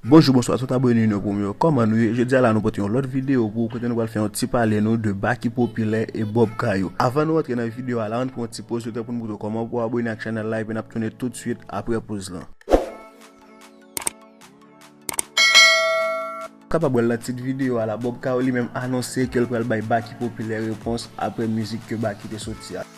Bonjou bonswa tout abone nou yo pou mwen yo kòman nou ye jodi a la nou pote yon lòt video pou ou kote nou pral fè yon ti pale nou de ba ki popilè e bob kayo avan nou antre nan video a la ann pran yon ti poz letan pou nou moutre w kòman pou w abone ak chanèl la epi nap tounen tout swit aprè poz lan. Ou kapab wèl nan tit video a la bob kayo li menm anonse kel pral bay ba ki popilè repons aprè mizik ke ba ki te soti a.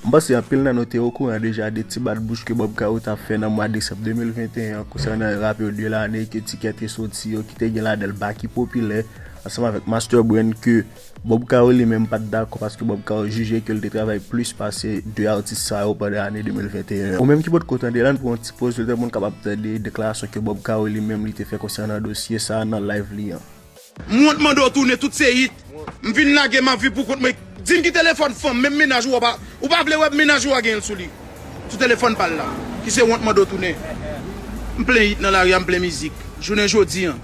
M panse anpil nan nou te okouran deja de ti bat bouch ke Bob Caro tap fè nan mwa desanm 2021 an konsènan rapè de lane ke T-Kè te soti yo ki te gen ladan l Baky Popilè ansanm avèk Master Brain ke Bob Caro li menm pat dakò paske Bob Caro jije ke l te travay plis pase 2 atis sa yo pandan ane 2021 an. Ou menm ki potko tande la, ann pran yon ti poz letan pou n kapab tande deklarasyon ke Bob Caro li menm li te fè konsènan dosye sa nan live li an. M wont mande w tounen tout se hit m vin lage map viv pou kont mwen dim ki telefòn fanm menm mennaj ou a ou pa vle wè mennaj ou a genyen l sou li sou telefòn pal la ki se wont mande w tounen m plen hit nan lari a m plen mizik jounen jodi an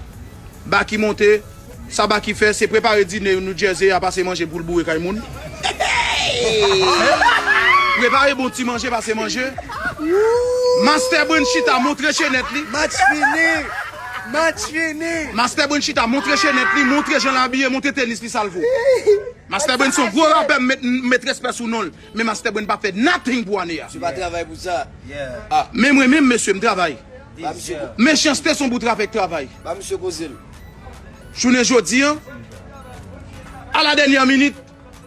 Baky monte sa Baky fè se prepare dine yon Newjersey a pase manje poul boure kay moun heeyy prepare bon ti manje pase manje Master Brand chita montre chenèt li match fini. Match fini! Mastè Brain chita montre chenèt li, montre jan l abiye, montre tenis li sa l vo. Mastè Brain se yon gwo rapè m met respè sou non l, men Mastè Brain pa fè nothing pou ane a. Misye pa travay pou sa. Ah, men mwen menm mesye m travay. Mechanste son bout rafè k travay. Ba misye koze l. Jounen jodi an, a la dènyè minit,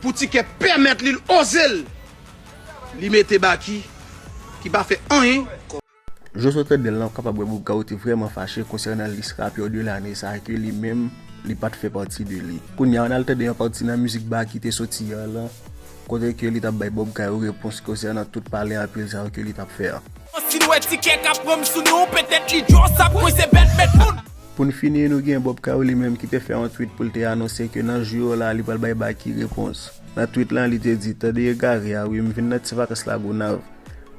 pou ti kè pèmèt li, l oze l, li mete Baky ki pa fè anyen. Jòs wè Fèdnèl nan kapab wè Bourgault te vrèman fache konsènan lis rapè 2 lane sa a ke li menm li pat fè pati de li. Kounye a an al tande yon pati nan mizik Baky te soti an lan kote ke li tap bay Bob Kay yon repons konsènan tout pale anpil sa yo ke li tap fè an. Pou n fini nou gen Bob Kay li menm ki te fè yon tweet pou l te anonse ke nan jou yo la li pral bay Baky repons. Nan tweet lan li te di, Tande egare a wi, m vin nan ti vakans Lagonav.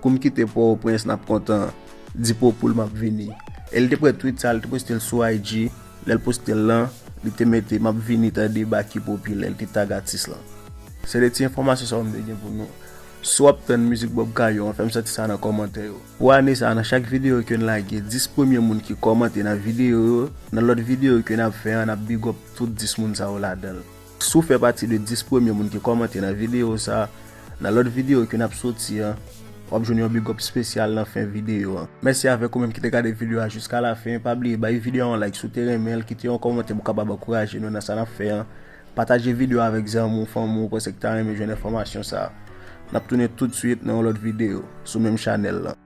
Kou m kite Pòtoprens n ap kontan Di po poul m ap vini E l te pran twit sa l te poste l sou IG Lè l poste l lan li te mete m ap vini tande Baky popilè l te tag atis lan Se de ti enfòmasyon sa yo m te gen pou nou Si w ap tann mizik Bob Kayo an fè m santi sa nan kòmantè yo Pou ane sa nan chak videyo ke n lage 10 premye moun ki kòmante nan videyo yo nan lòt videyo ke n ap fè an n ap bigòp tout 10 moun sa yo ladan l. Si w fè pati de 10 premye moun ki kòmante nan videyo sa, nan lòt videyo ki nap soti an, wap jwenn yon bigòp spesyal nan fen videyo an. Mèsi avèk ou menm ki te gade videyo a jiska lafen, pa bliye bay videyo a yon like si w te renmen l, kite yon kòmantè pou kapab ankouraje nou nan sa nap fè an, pataje videyo a avèk zanmi w, fanmi w ou panse ki ta renmen jwenn enfòmasyon sa. Nap tounen tout swit nan yon lòt videyo, sou menm chanèl lan.